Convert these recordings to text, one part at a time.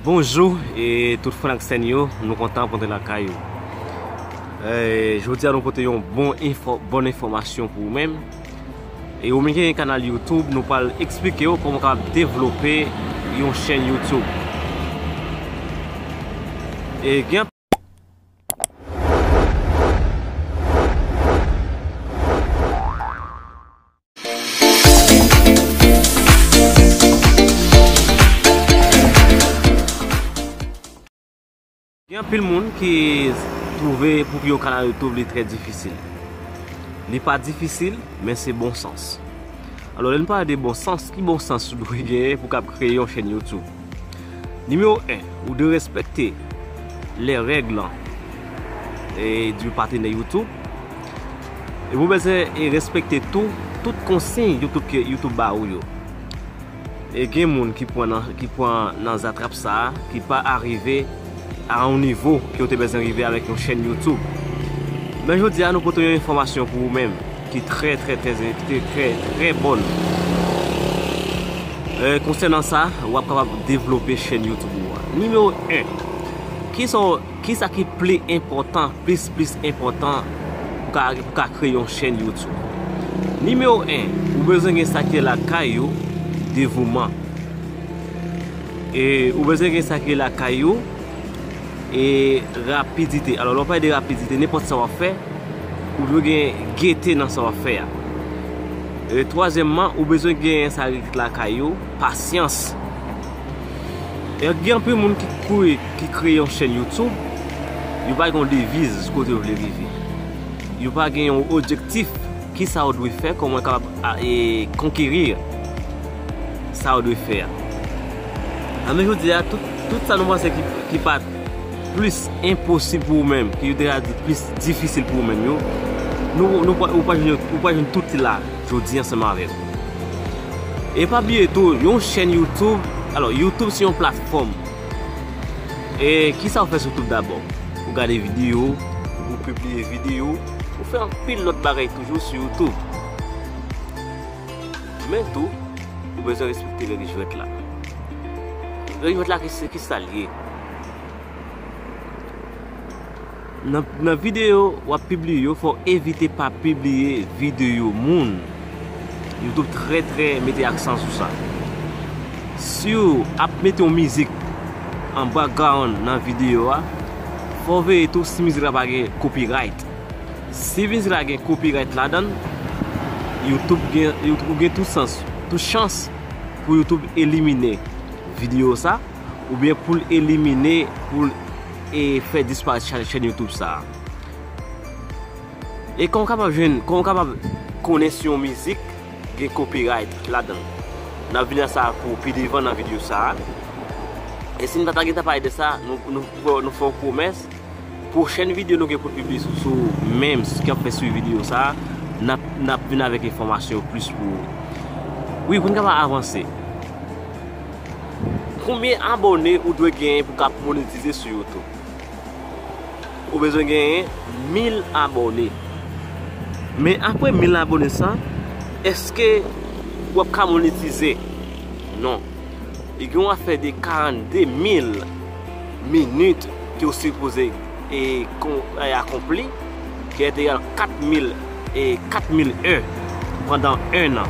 Bonjou e tout franksen yo, nou kontan pou te lakay yo. Jodi a nou pote yon bon enfòmasyon pou ou menm. E ou menm ki gen kanal YouTube nou pral eksplike ou kòman ou kapab devlope yon chèn YouTube. E gen anpil. Gen anpil moun ki twouve pou ki yo ka nan YouTube li trè difisil. Li pa difisil, men se bon sans. Alò lè nou pale de bon sans, ki bon sans ou dwe genyen pou kab kreye yon chèn YouTube? Nimewo 1, ou dwe respekte lè règ lan e di patenè YouTube. Epi ou bezwen respekte tou tout konsiy YouTube ba ou yo. E gen moun ki pwan nan ki pwan nan zatrap sa a ki pa arive a yon nivo ke yo te bezwen rive avèk yon chèn YouTube. Men jodi a nou pote yon enfòmasyon pou ou menm ki trè trè trè ki trè trè bòn konsènan sa wap kapab devlope chèn YouTube ou a. Nimewo 1, kisa w. Ki sa ki pli enpòtan, plis plis enpòtan pou ka pou ka kreye yon chèn YouTube? Nimewo 1, ou bezwen gen sa ki lakay ou, devouman. E ou bezwen gen sa ki lakay ou e rapidite. Alò lè w pale de rapidite, nenpòt sa w ap fè, ou dwe gen gete nan sa w ap fè a. E twazyèmman, ou bezwen gen sa ki lakay ou, pasyans. Gen anpil moun ki kouri ki kreye yon chèn YouTube, yo pa gen yon deviz kote yo vle rive. Yo pa gen yon objektif ki sa yo dwe fè, kòman yo kapab konkeri sa yo dwe fè a. An nou jodi a, tout sa nou panse ki pa plis enposib pou ou menm, ki yo te ka di plis difisil pou ou menm yo, nou ou pa jwenn tout la. jodi ansanm avèk ou. E pa bliye tou yon chèn YouTube, alò YouTube se yon platfòm. E kisa ou fè sou YouTube dabò? Ou gade videyo, ou pibliye videyo, ou fè anpil lòt bagay toujou sou YouTube. Men tou, ou bezwen respekte règ jwèt la. Règ jwèt la se kisa li ye? Nan videyo wap pibliye yo fòw evite pa pibliye videyo moun. Youtube trè trè mete aksan sou sa. Siw ap mete yon mizik an background nan videyo a, fòw veye tou si mizik la pa gen copyright. Si mizik la gen copyright ladann, youtube gen ou gen tout sans, tout chans pou youtube elimine videyo sa oubyen poul elimine poul. E fè disparèt chèn youtube sa. E kòman w kapab jwenn, kòman w kapab konnen si yon mizik gen copyright ladan l. N ap vini a sa pou pi devan nan videyo sa. E si n pa ta gentan pale de sa, nou fè w pwomès, pwochèn videyo nou gen pou n pibliye sou menm si kap fè swivi videyo sa, n ap vini avèk enfòmasyon plis pou ou. Wi pou n kapab avanse. Konbyen abòne ou dwe genyen pou kap monetize sou youtube? Ou bezwen genyen 1000 abòne Men apre 1000 abòne sa Eske wap ka monetize? Non Li gen yon afè de 42 mil minit ke ou sipoze e akonpli Ki est egal 4 mil e 4 mil è Pandan 1 an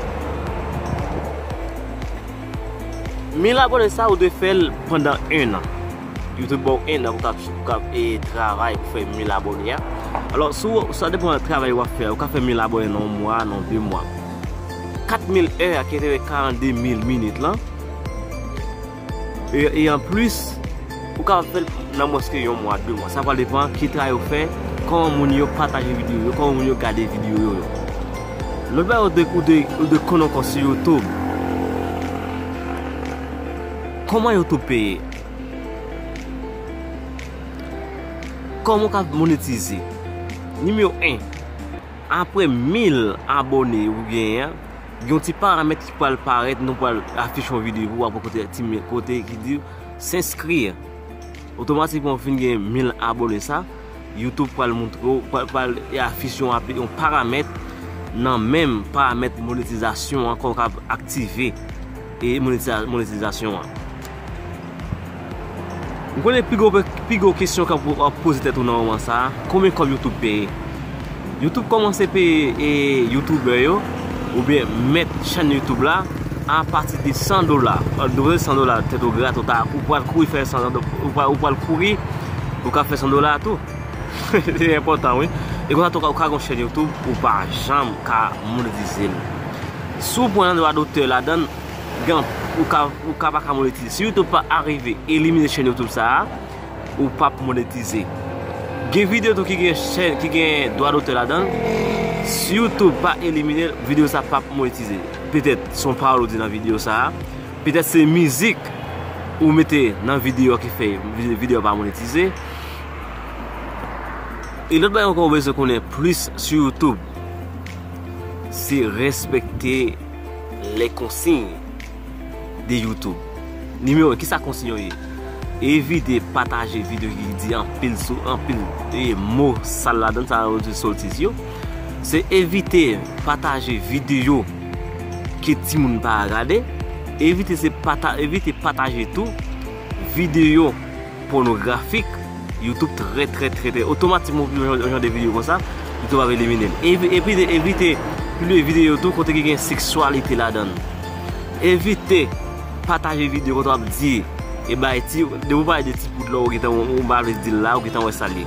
1000 abone sa ou dwe fèl pandan 1 an Youtube baw 1 an pou ka travay pou fè 1000 abone a alò sou sa depan nan travay wap fè a ou ka fè 1000 abone nan 1 mwa nan 2 mwa 4000 è a ki rele 42000 minit lan e an plis ou ka fèl nan mwens ke 1 mwa 2 mwa sa pral depan ki travay ou fè kòman moun yo pataje videyo yo kòman moun yo gade videyo yo. Lòt bagay ou dwe konn ankò sou YouTube. Kòman YouTube peye? Kòman ou ka monetize? Nimewo 1, apre 1000 abòne ou genyen an, gen yon ti paramèt ki pral parèt nou pral afich yon videyo pou ou apre kote ti men kote ki di s'inscrire. Otomatikman ou fin gen 1000 abòne sa. YouTube pral montre w, pral e afiche yon api, yon paramèt nan menm paramèt monetizasyon an kòw kab aktive e monetizasyon an. M konnen pi gwo kesyon kap wap poze tèt ou nan moman sa, konbyen kòb YouTube peye? Youtube kòmanse peye youtuber yo oubyen mèt chèn youtube la a pati de 100 dola ou dwe 100 dola tèt ou grat ou ta ou pwal kouri fè 100 dola ou pwal kouri pou ka fè 100 dola tou se enpòtan wi e konsa tou ou ka gon chèn youtube ou pa janm ka monetize l si w pran dwa dotè ladann gen ou ka pa ka monetize si youtube pa arive elimine chèn youtube sa a. ou pap monetize. Gen video tou ki gen chèn ki gen dwa dotè ladanl. Si youtube pa eliminel video sa pap monetize. Petèt son pawòl ou di nan video sa. Petèt se mizik ou mete nan video a ki fè video pa monetize. E lòt bagay ankò ou bezwen konnen plis sou youtube. Se respekte le konsiy. de YouTube. Nimewo 1, kisa konsiy yo ye? Evite pataje videyo ki di anpil sou anpil mo sal ladan, sa yo di sotiz yo. Se evite pataje videyo ke timoun pa gade. Evite pataje tou videyo. Pònografik YouTube trè trè trè trè otomatik mwen pibye yon jan de videyo konsa YouTube ap eliminel epi de evite pibliye videyo tou kote ki gen seksyalite ladann evite pataje videyo kote wap di e bay ti depi ou pale de ti poud la ou gentan ou pa vle dil la ou gentan wè sal ye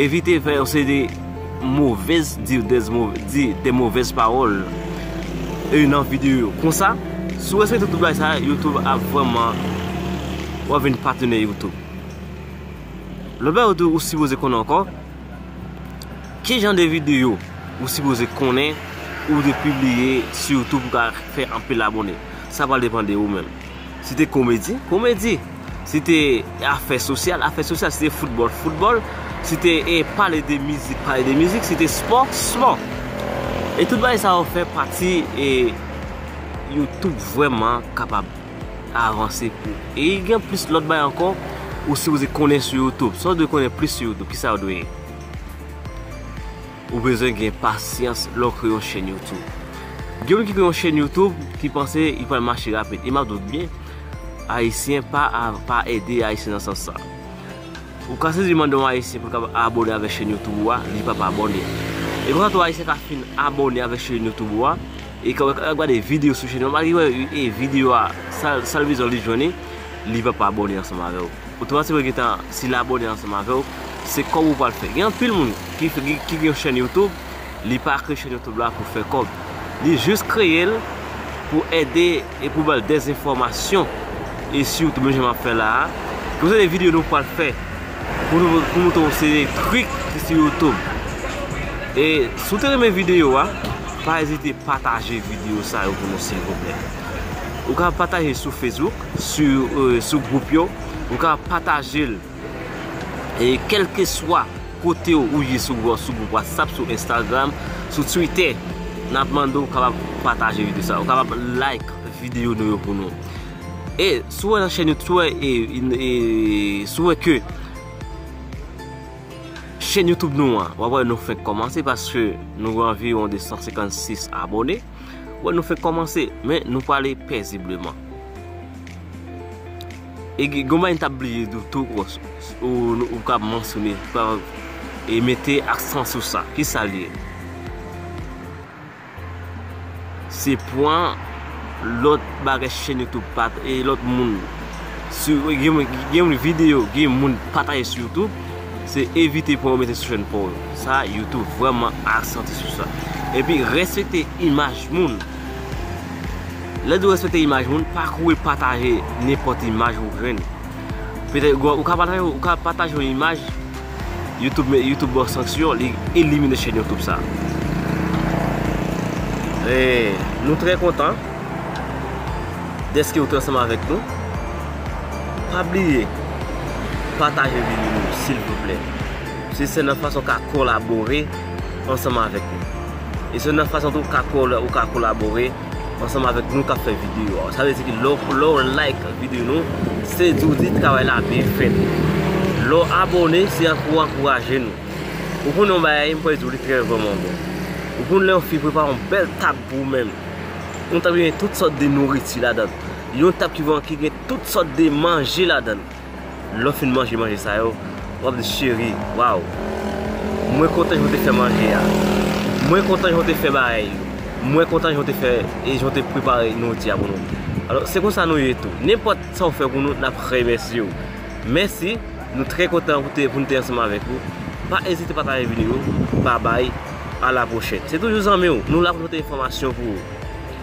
evite fè yon seri de Movez dir des di de movez pawol eu nan video yo konsa si w respekte tout bagay sa youtube ap vreman wap vin patenè youtube lòt bagay tou ou sipoze konnen ankò ki jan de video ou sipoze konnen ou de pibliye su youtube pou ka fè anpil abone sa pral depan de ou menm. Si te komedi, komedi. Si te afè sosyal, afè sosyal. Si te foutbòl, foutbòl. Si te pale de mizik, pale de mizik. Si te spò, spò. E tout bagay sa yo fè pati e YouTube vwèman kapab avanse pou. E gen plis lòt bagay ankò ou sipoze konnen sou YouTube. Sa ou dwe konnen plis sou YouTube, ki sa ou dwe ye? Ou bezwen gen pasyans lè w kreye yon chèn YouTube. Gen moun ki kreye yon chèn YouTube ki panse li pral mache rapid. E m ap di w byen, Ayisyen pa ede Ayisyen nan sans sa. Ou ka sezi mande yon Ayisyen pou l kapab abone avèk chèn YouTube ou a, li p ap abone. E konsa tou Ayisyen ka fin abone avèk chèn YouTube ou a, e kè w ap gade videyo sou chèn ou a, malgre li wè videyo a, sa l bezwen li jwenn li, li p ap abone ansanm avè w. Ou te panse mwen gentan sil abone ansanm avew se kob ou pwal fè gen anpil moun ki gen yon chèn YouTube li pa kreye chèn YouTube la pou fè kob li jis kreyel pou ede e pou bal des enfòmasyon e si YouTube menm jan map fè la a gen seri de video nou pwal fè pou nou moutre yon seri de trik ki sou YouTube e si ou te renmen video a pa ezite pataje video sa yo pou nou silvouplè ou ka pataje sou Facebook. sou group yo ou ka patajel e kelkeswa kotew ou ye sou group whatsapp sou instagram sou twitter nap mande ou kapab pataje video sa ou kapab like video nou yo pou nou e sou wè nan chèn youtube sou wè e sou wè ke chèn youtube nou an wap wè nou fenk komanse paske nou gen anviron 256 abone. Ou wè nou fèk kòmanse, men nou pwale pèzibleman. E gen yon bagay nou ta bliye di w tou bòs, ou ka mansyone, ou ka mete aksan sou sa. Ki sa l ye? Se pwen lòt bagay chèn youtube pa, e lòt moun, gen yon videyo, gen yon moun pataje sou youtube. Se evite pwen ou mete sou chèn paw yo. Sa YouTube vrèman asante sou sa. Epi respekte imaj moun. Lè di w respekte imaj moun, pa kouri pataje nenpòt imaj ou jwenn. Petèt ou ka pataje, ou ka pataje yon imaj, YouTube, YouTube ba w sanksyon, li elimine chèn YouTube sa. E nou trè kontan dèske ou te ansanm avèk nou. Pa bliye pataje video yo silvouplè. Se sèl yon fason w ka kolabore ansanm avèk nou. E se yon fason tou w ka kolabore ansanm avèk nou k ap fè video a. Sa vle di ki lè w like video nou, se di w di travay la byen fèt. Lè w abone, se pou w ankouraje nou. Ou konn yon bagay, m pral di w li trè vrèman bon. Ou konn lè yon fi prepare yon bèl tab pou ou menm. Yon tab ki gen tout sòt de nouriti ladan l. Yon tab ki van ki gen tout sòt de manje ladan l. Lè w fin manje manje sa yo, w ap di cheri, Waww! Mwen kontan jan w te fè manje a. Mwen kontan jan w te fè bagay yo. Mwen kontan jan w te fè e jan w te prepare nouriti a pou nou. Alò, se konsa nou ye tou. Nenpòt sa ou fè pou nou, n ap remèsye ou. Mèsi, nou trè kontan pou te pou nou te ansanm avèk ou. Pa ezite pataje videyo. Babay, a la pwochèn. Se toujou zanmi w. Nou la pou nou pote enfòmasyon pou ou.